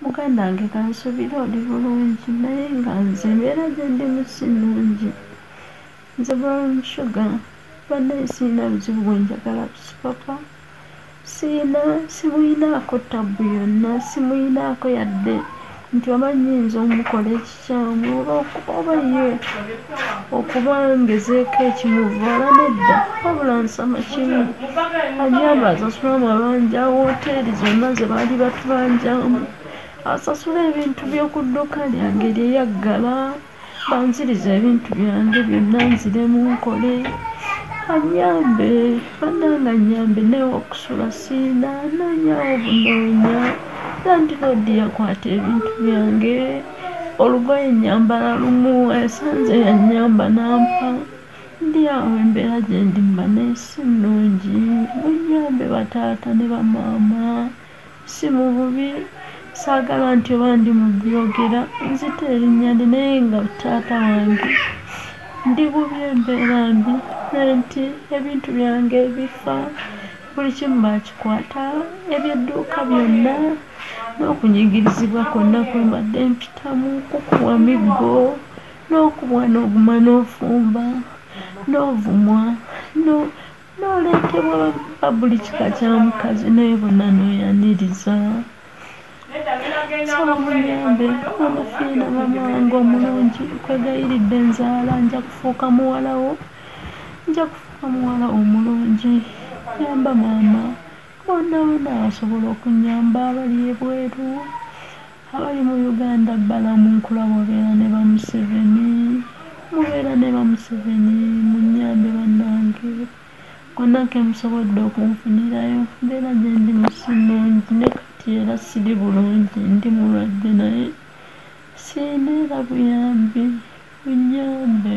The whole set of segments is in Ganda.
Muganda wange kansubire oli bulungi naye nga nze embeera gyendimu si nnungi nze brown sugar bannaye sirina buzibu bwe njagala ku sipapa sirina simuyinaako tabbu yonna simuyinaako yadde nti oba nyinza omukola eki Saamu oba oba ye okuba ngezeeko ekimuvvoola nedda wabula nsama kimu anyamba asasule amabanja wooteeri zonna ze baali batubanjamu asasule ebintu by'oku dduuka lyange lye yaggala banzirize ebintu byange byonna nziremu nkole annyambe. bananga nyambe naye okusula sina nanyawo bunonya landiroodi yakwata ebintu byange olugoye nyambala lumu esanze yanyamba nampa ndi awo embeera gyendi mba nesi nnungi munyambe bataata ne bamaama si mu bubi saagala nti oba ndi mu byogera nzita erinnya ndi naye nga taata wange ndi bubi embeera mbi naye nti ebintu byange bifa buli kimu baakikwata ebyedduuka byonna n'okunyigirizibwa kwonna kwe mbadde mpitamu kukuwa miggo n'okubwa n'oguma n'ofumba n'ovumwa n'oleetebwa ba buli kika kya mukazi naye bonna n'oyaniriza sabamunyambe mama fiina mama wange omulungi nkwegayiridde nzaala nja kufuuka muwalawo nja kufuuka muwala omulungi yamba maama bonna bonna asobola okunyamba abali ebweru Abali mu Uganda balamu nkulaba obeera ne ba museveni mubeera ne ba museveni munyambe banange wonna kemusobodde okunfunirayo mbeera gyendimu sinungi ne kati era siri bulungi ndi mulwadde naye siyina era buyambi munyambe.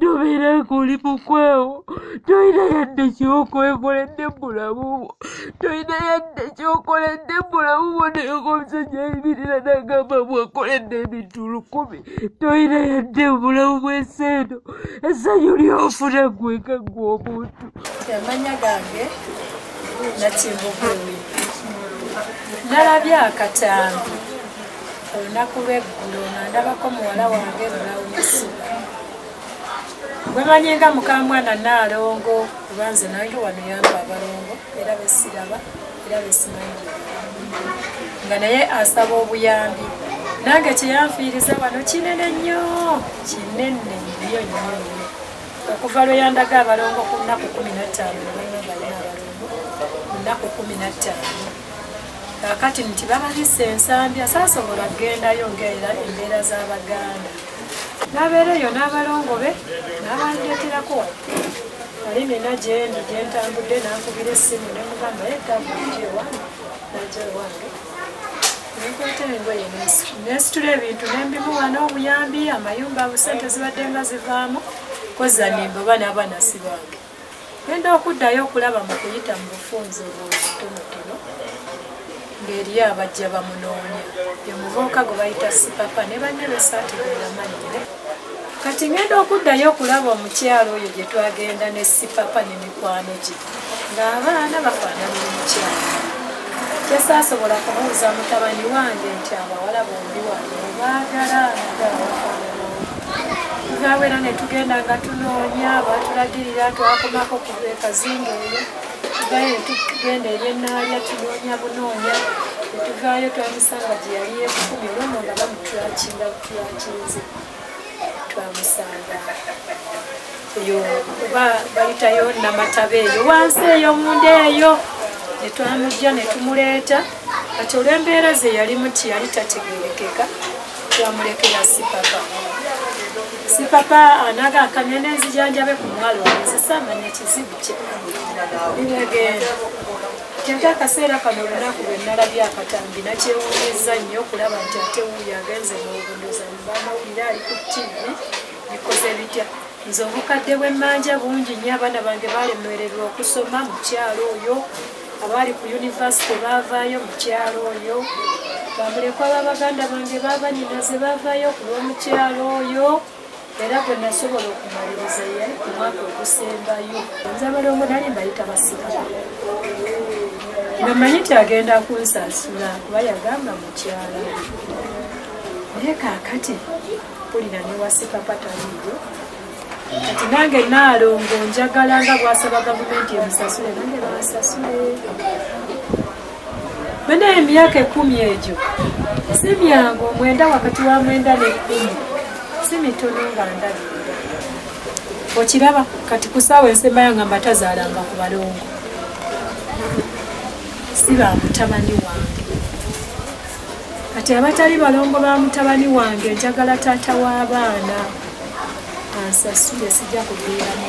tobeera ng'oli mukwawo tolina yadde kyokwekoledde mubulamu bwo tolina yadde kyokoledde mubulamu bwo nayoko omusajja ayimirira nagamba bwakoledde ebintu lukumi tolina yadde mubulamu bw'ensi eno essanyu lyofuna gweka gwe omuntu amanya gange nakimbugumi nalabye akataano olunaku lweggulo nga ndabako muwala wange bulawusi wemanyi nga mukamwana naalongo kubanze nange wano yamba abalongo era besiraba era besimanyi nga naye asaba obuyambi nange kyeyanfiiriza wano kinene nnyo kinene nnyo nnyo okuva lwe yandaga abalongo ku nnaku kumi nattaano nebayobalina abalongo ku nnaku kumi nattaano kakati nti bababisa ensambi asaasobola kugendayo ngaera embeera z'abaganda nabeera eyo n'abalongo be nabandeterako ali nina gyendi gyentambudde nankubira essimu nemugamba ye tabujewange najewange nekwata engoye nensitula ebintu nembimuwa n'obuyambi amayumba abo sente zibadde nga zivaamu kozanimba oba n'abaana sibange genda okuddayo okulaba mu kuyita mu bufunzi obwobutonotono ng'eriyo abajja bamunoonya emuvuuka gwe bayita sipapa ne banne besaati bweyamanyi kati ngenda okuddayo okulaba omukyalo oyo gye twagenda ne sipapa ne mikwano gye ng'abaana bafaanana omukyalo kyesaasobola kumubuza mutabani wange nti abawala bombi wange obaagala naawe era ne tugenda nga tunoonya batulagirira twakomako ku ekazinga eyo tugayo netugenda ebyenaalya tunoonya bunoonya etuvaayo twamusanga gye yali yekukumi olwono nga bamutulakinga Twakinze twamusanga eyo kuba bayitayo namataba eyo wansi eyo munda eyo netwamujja netumuleeta kati olwembeera ze yali muti yali tategerekeka twamulekera sipapa sipapa anaga akamya nenzijanjabe ku mwalo nzisa manya kizibu kye bibegenda Nti akaseera kano olunaku lwe nnalabye akatambi nakyewuunyizza nnyo okulaba nti ate wuuyo agenze n'obundoza mu bamawulire ali ku ttivi bikoze bitya nze obukadde bw'emmanja bungi nnyo abaana bange baalemwererwa okusoma mu kyalo oyo abaali ku yunivasite baavaayo mu kyalo oyo bamulekwa ba baganda bange baabanyinaze baavaayo ku lw'omukyalo oyo era gwe nasobola okumaliriza ye omwaka ogusembayo nze abalongo nali mbayita basirala nga manyi nti agenda kunsasula kuba yagamba mukyala naye kakati mpulira newasipapa taliyo kati nange naalongo njagala nga bwasaba gavumenti emusasule nange bansasule Banaye emyaka ekumi egyo si myangu omwenda wakati wa mwenda nekumi si mitono nga ndabi okiraba kati kusaawa ensemba yanga mbatazaalanga ku balongo si ba mutabani wange kati abatali balongo ba mutabani wange njagala taata w'abaana ansasule sijja kubeeramu